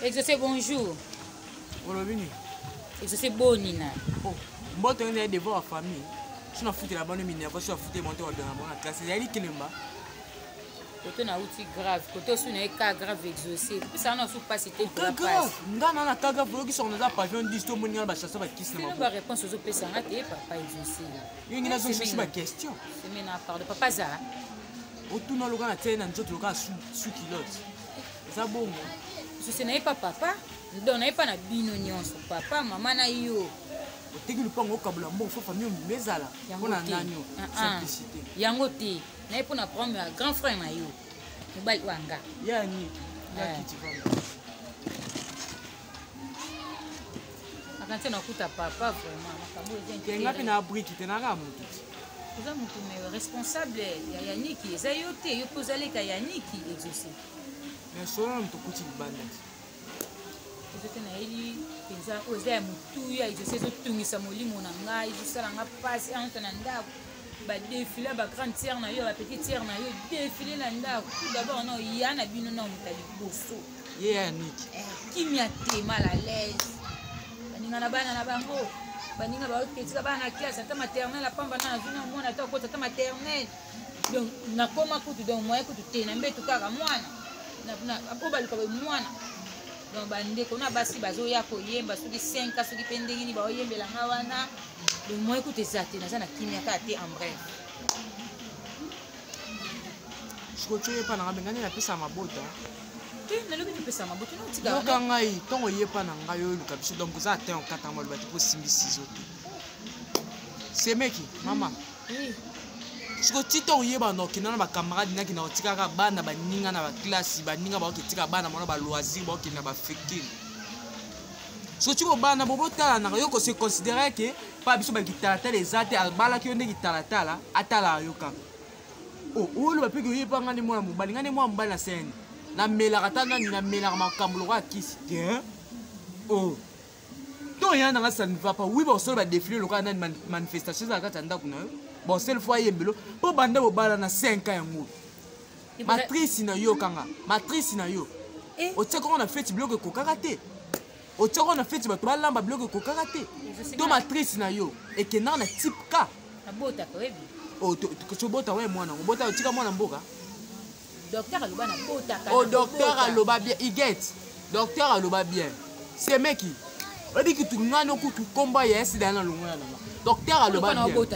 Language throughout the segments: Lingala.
exaucé bonjour olobi nini exaucé boni na oh, mboto yo naye devant bafamille so nafutela bano minerva so afute monte wadona bango na classe ezali kelemba koto nauti grave koto osu na ye ka grave exaucé pesana osu mpasi te nga na na ka grave oyokisaka naza pavion 10 to omoni nga na bachaseur bakisi na baréponse ozopesa nga te papa exaucé yo ngi nazongi sosi ba question semena pardon papa zala otuna loka na tiai na nzoto loka su kilote eza bongo susi na ye pa papa ndo na ye pa na bino nyonso papa mama na yo oteki lupango okabula mbongo fo famille omima ezala mpo na nani ah, ah. simplicité yango te na ye mpo na problème ya grand frère na yo mobali wanga yani nakiti eh. nakanisi nakuta papa vraiment makambo ezengapi na briki te naka motu oza motu me responsable ya yaniki eza yo te yo mpe ozaleka yaniki exauce mais solo na moto okuti libanda te ezo te nayeli mpenza oyo eza ya motuya exauce ezotungisa molimo na ngai ezosala nga mpasi anta na ndako badefile ya bagrande tiere na yo ya bapetite tiere na yo defile na ndako tout d'abord na oya na bino na moto ya liboso ye ya yaniki eh, kimia te mal à l'aise baninga na bana na bango baninga baoketika bana na classe ata maternel apamba na nazwi na mwana ata okota ata maternel donc nakoma kutu donc moyen kutu te na mbetu kaka mwana po baluka mwana donc bandeko na basi bazoya koyemba soki 5 soki mpe ndenge nini baoyembela nga wana donc moyen kutu eza te naza na kimia kaka te en bref sikoyo coyepa nanga mengani napesa mabota te nalobi topesama boto naotikayoka ngai ntongo oyepa na ngai oyo oluka biso donc oza atin okata yango aloba te mpo osimbi sizo te semeki mama siko ti ntongo oyeba na okenda na bacamarade naki na otikaka bana baninga na baklasi baninga baoki etika bana mona baloisir baokende na bafekile soki kobana bobotalanaka yo kose considere ke mpa biso bakitalatala eza te abalaki yo nde kitalatala atalaka yo kaka oh, oloba mpe koyeba ngai nde mwana mobali ngai nde mwana mobali na sene namelaka ata nani namelaka makambo lokola kisi te oh. to ya nanga ça ne va pas oui bosolo badefile lokola nani manifestation ezala kati ya ndako na yo bosele fo ayembelo mpo banda bobala na 5 ans yango matrice na yo kanga matrice na yo eh. otiaka ngo na feti biloko ekokaka te otyaka na feti bato balamba biloko ekokaka te to matrice na yo ekendaka na type k tobota we mwana yango bota otika mwana mboka o docteur aloba bien iget docteur aloba bien semeki oyebi kutu ngani okutu nkombo ya esida na longola nanga docteur aloba bien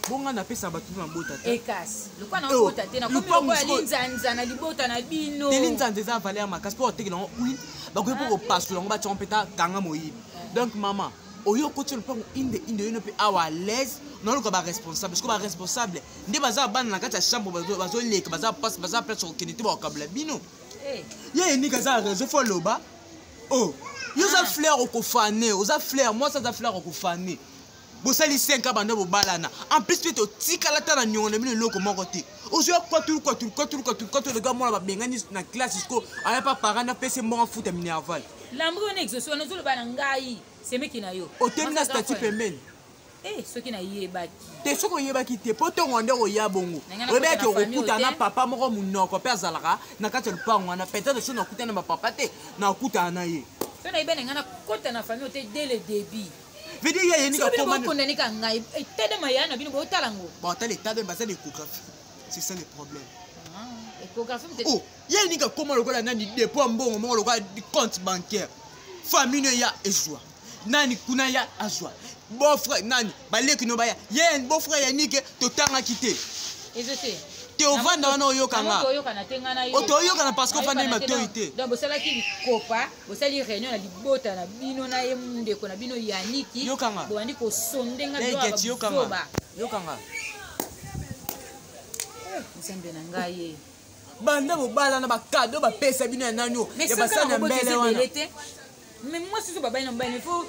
bonga napesa bato mpe mabota te ekasi lokola nabota te nakomilokola linzanza na libota na bino te linzanza eza valeur makasi mpo otekela yango huile bakoki mpo ah, kopasola yango batyango mpe ta kanga moyibi donc mama oyo okoti lopango inde inde oyino mpe awa alaise naoluka baresponsable siko baresponsable nde baza bana na kati ya chambre bazoleka baza pasi baza place kokende te bakokabula bino eh. ye enika aza réseau fo aloba o oh, yo oza ah. fleur okofane oza fleur mwasi aza fleur okofane bosali 5 ans banda bobalana en plus mpe totikala ata na niongo na bino eloko moko te ozoya kwatulu kwatulu kwatulu kwatulu kwatulu oga mwana babengani na classe siko aya pa parent apesi mbongo afuta minerval lambo wana exauce wana ozoloba na ngai semeki na yo otemi na statut pembeni Eh, soki nayebaki te soki oyebaki te mpo ntongo nde okoya bongo oyebaki okokuta na papa moko monoko mpe azalaka na kati ya lupango wana peut-être soki nakutana na bapapa te nakutana na ye so nayebi na ngai nakota na famille ote dès le début veut dire ya yenika koma kondane ka ngai etade maya na bino bo tala ngo ba tala etade ba zali échographie c'est ça le problème ah, échographie peut-être oh ya yenika koma lokola nani dépôt mbongo moko lokola compte bancaire famille ya ezwa nani kuna ya azwa bofre nani baleki no baya ye bofre ya nike totangaki te te ovanda wana oyokanga otoyokana parce que ofandeli matoi te bosali réunion na libota na bino na ye ndeko na bino yaniki bobandi kosonde nga biloba yokanga eh, nzambe na ngai ye banda bobalana bakado bapesa bino ya nani ya basani ya mbele wana me mwasi ozo babali na mobali me fo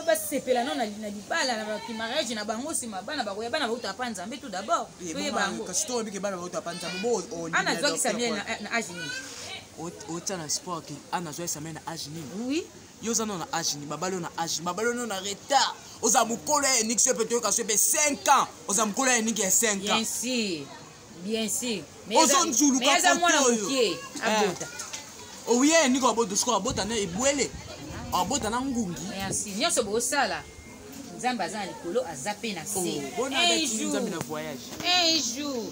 basepela no na libala na bamariage na bango nsima bana bakoya bana bauta pa nzambe tout d'abord toye bango ana azwakisa mie na age nini otia na sport ke ana azwa esamele na age nini oui yo oza nano na age nini babali oyo na age nini babali oyo na retard oza mokolo ya eniki so epe toyoka so epe 5 ans oza mokolo ya eniki ya 5 ans bien sûr ozo nzuluka kote oyo eh. abota owiye oh eniki abota sikoyo abota na ebwele abota na ngungi merci nyonso bosala nzambe aza na likolo aza mpe na se oh, un jour un jour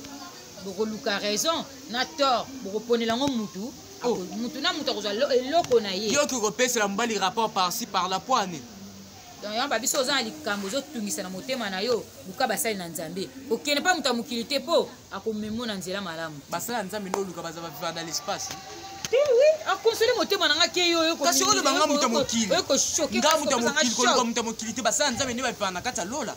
bokoluka raison na tort bokoponela yango mutu oh. mutu na mutu akozwa eloko na ye yoki kopesela mobali rapport parci par la poine donc yango babiso oza na likambo ozotungisa na motema na yo luka basali na nzambe kokende mpa moto ya mokili te mpo akomemo na nzela malamu basali ya nzambe nde oluka baza baviva na l'espace te wi akonsole motema na nga ke yo kasi oloba nga moto ya mokili nga moto ya mokili koluka moto ya mokili te basali ya nzambe nde baviva na kati ya lola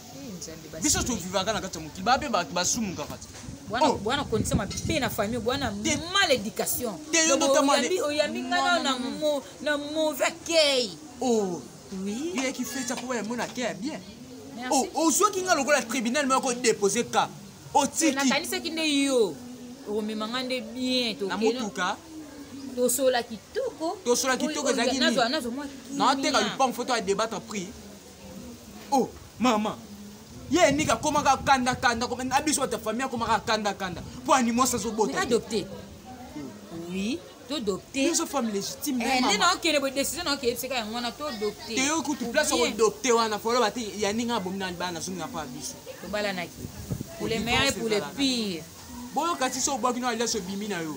biso tovivaka na kati ya mokili bape bato basumukaka te Oh. bwana kondisa mabe na famille bwana mal éducation oyambi ngai na mauvais accueil oh. oyaki feta mpo bayambo na accueil ya bien ozwaki oh, ngai lokola tribunal moko dépose ka otikinanisaki nde yo okomema ngai nde bien na motuka tosola kitoko tosola kitoko ezalaki nini naoteka lupango foto ya débattre prix oh mama ye niki akomaka kanda kanda na biso bata famille akomaka kanda kanda mpo animwasi azobota adopte oui todopte biso femme légitime eh, nde naokende boye décision naoke yebisaka yango wana todopte teyo kutu place okodopte wana foloba te ya ndenge abomi na libala nazongi na mpo ya biso tobalanaki pour le meilleur et pour le pire boyoka ti so obwaki no alias obimi na yo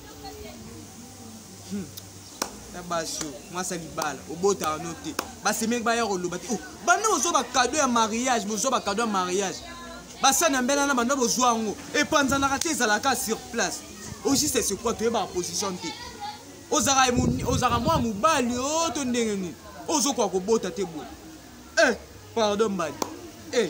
hmm. na basi oyo mwasi ya libala obotaka no te basemeki baya koloba te oh, banda bozwa bakado ya mariage bozwa bakado ya mariage basani ya mbela na banda bozwa yango epanzanaka te ezalaka sur place ojiste sekwa toyebaka position te ozalaka mwa mobali o oh, to ndenge nini ozokoka kobota te boye eh, pardon mbadi eh.